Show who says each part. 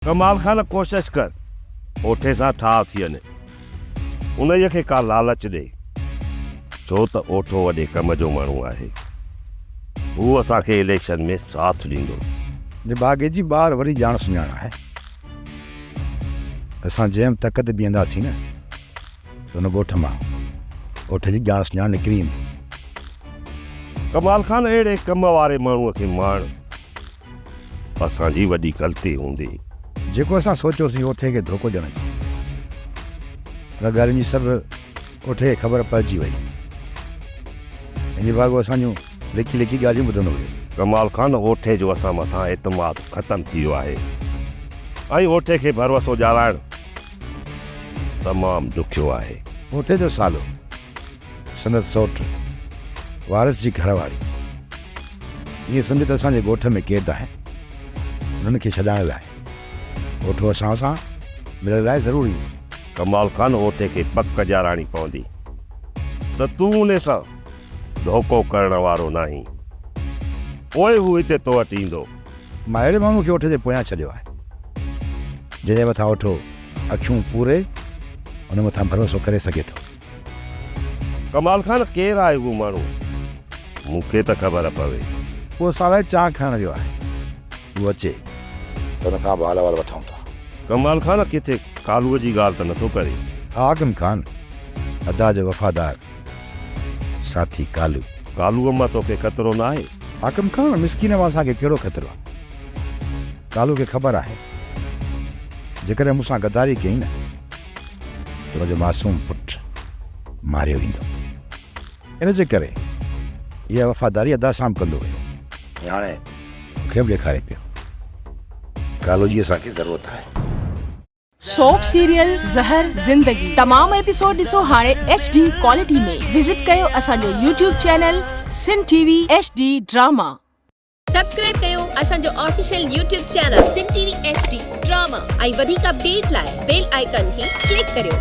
Speaker 1: ڪمال خان ڪوشش ڪر اوٺي سان ٺاهه ٿي وڃي انهيء کي ڪا لالچ ڏي ڇو ته اوٺو وڏي ڪم جو ماڻهو آهي هو اسان کي اليڪشن ۾ ساٿ ڏيندو. نڀاڳي جي
Speaker 2: ٻار وري ڄاڻ سڃاڻ آهي ته اسان جنهن تڪ تي بيهنداسين نه ته ان ڳوٺ مان اوٺي جي ڄاڻ سڃاڻ نڪري ايندي. ڪمال خان
Speaker 1: اهڙي ڪم واري ماڻهو کي ماڻ. اسان جي وڏي غلطي هوندي. جيڪو اسان
Speaker 2: سوچيو سين اوٺي کي ڌوڪو ڏيڻ اچي ويو. ان ڳالهين جي سڀ اوٺي کي خبر پئجي وئي. هن جي ڀاڳو اسان جون لڪي لڪي ڳالهيون ٻڌندو هيو. ڪمال خان اوٺي
Speaker 1: جو اسان مٿان اعتماد ختم ٿي ويو آهي ۽ اوٺي کي ڀروسو ڄارائڻ تمام ڏکيو آهي. اوٺي جو سالو
Speaker 2: سندس سئوٽ، وارث جي گهر واري، ائين سمجهه ته اسان جي ڳوٺ ۾ قيد آهن، انهن کي ڇڏائڻ لاء اوٺو اسان سان ملڻ لاء ضرور ايندي. ڪمال خان
Speaker 1: اوٺي کي پڪ ڄاراڻي پوندي ته تون انهي سان ڌوڪو ڪرڻ وارو ناهين، پوء هو هتي تو وٽ ايندو. مان اهڙي ماڻهو
Speaker 2: کي اوٺ جي پويان ڇڏيو آهي، جنهن جي مٿان اوٺو اکيون پوري ان مٿان ڀروسو ڪري سگهي ٿو.
Speaker 1: ڪمال خان ڪير آهي اهو ماڻهو مون کي ته خبر پوي. ڪو اسان لاء
Speaker 2: چانهه کڻڻ ويو آهي هو اچي ته هن کان به حال احوال وٺون ٿا. ڪمال خان ڪٿي
Speaker 1: ڪالوء جي ڳالهه ته نٿو ڪرين. حاڪم خان
Speaker 2: ادا جو وفادار ساٿي ڪالو. ڪالوء مان توکي
Speaker 1: خطرو ناهي. حاڪم خان مسڪين
Speaker 2: مان اسان کي ڪهڙو خطرو ڪالو کي خبر آهي جيڪڏهن مون سان غداري ڪيئي نه. تنهنجو معصوم پٽ ماريو ويندو. ان جي ڪري اها وفاداري ادا سام ڪندو ويو. هاڻي مون کي به ڏيکاري پيو. ڪالو جي اسان کي ضرورت آهي.
Speaker 3: سوپ سيريل زهر زندگي تمام ايپيسوڊ ڏسو هاڻي ايڇ ڊي ڪوالٽي ۾ وزٽ ڪيو اسان جو YouTube channel Sindh T V H D drama. Subscribe
Speaker 4: ڪيو اسان جو official YouTube channel Sindh T V H D drama ۽ وڌيڪ اپڊيٽ لاء بيل آئيڪن کي ڪلڪ ڪريو.